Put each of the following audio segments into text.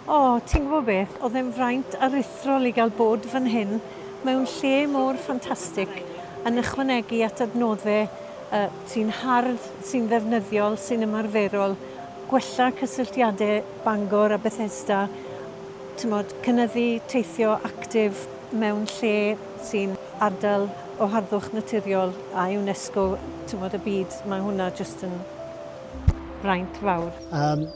O, ti'n gwybod beth, oedd e'n fraint aruthrol i gael bod fan hyn, mewn lle mor ffantastig, yn ychwanegu at adnoddau yy sy'n hardd, sy'n ddefnyddiol, sy'n ymarferol, gwella cysylltiadau Bangor a Bethesda, timod, cynyddu teithio actif mewn lle sy'n ardal o harddwch naturiol a UNESCO, timod, y byd, mae hwnna jyst yn fraint fawr. Um,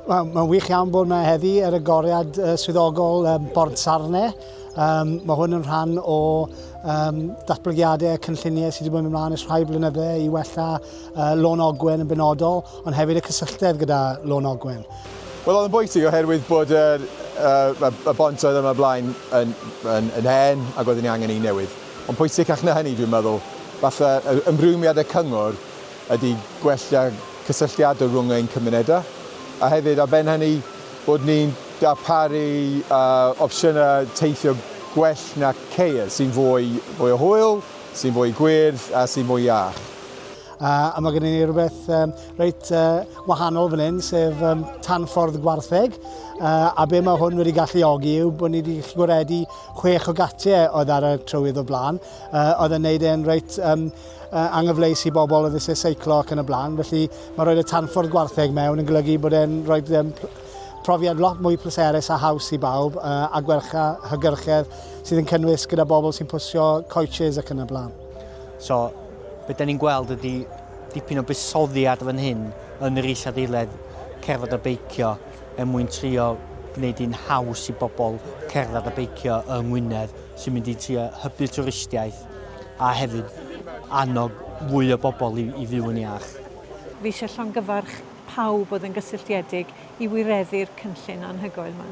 Mae'n ma wych iawn bod yma heddi ar y goriad uh, swyddogol um, Bord Sarne. Um, mae hwn yn rhan o um, datblygiadau a cynlluniau sydd wedi bod yn ymlaen ys rhai blynyddau i wella uh, Lôn Ogwen yn benodol, ond hefyd y cysylltedd gyda Lôn Ogwen. Wel, oedd yn bwysig oherwydd bod y, uh, y bont oedd yma blaen yn, yn, yn hen ac oedd yn angen ei newid. Ond pwysicach na hynny, dwi'n meddwl, falle ymrwymiad y cyngor ydy gwella cysylltiadau rhwng ein cymunedau, a hefyd ar ben hynny bod ni'n darparu uh, opsiynau teithio gwell na ceir, sy'n fwy, fwy o hwyl, sy'n fwy gwyrdd a sy'n fwy iach. Uh, a mae gennym ni rhywbeth um, reit uh, wahanol fan hyn, sef um, tanffordd gwartheg. Uh, a be mae hwn wedi galluogi yw bod ni wedi gwaredu chwech o gatiau oedd ar y trywydd o blaen. Uh, oedd yn neud e'n reit um, uh, anghyfleus i bobl yn eisiau seiclo ac yn y blaen. Felly mae rhoi y tanffordd gwartheg mewn yn golygu bod e'n rhoi um, profiad lot mwy pleserus a haws i bawb uh, a gwelcha hygyrchedd sydd yn cynnwys gyda bobl sy'n pwysio coaches ac yn y blaen. So, beth da ni'n gweld ydy dipyn o busoddiad fan hyn yn yr isadeiledd cerdded a beicio er mwyn trio gwneud hi'n haws i bobl cerdded a beicio yng Ngwynedd sy'n mynd i trio hybu twristiaeth a hefyd annog fwy o bobl i, i fyw yn iach. Fi eisiau llongyfarch pawb oedd yn gysylltiedig i wireddu'r cynllun anhygoel yma.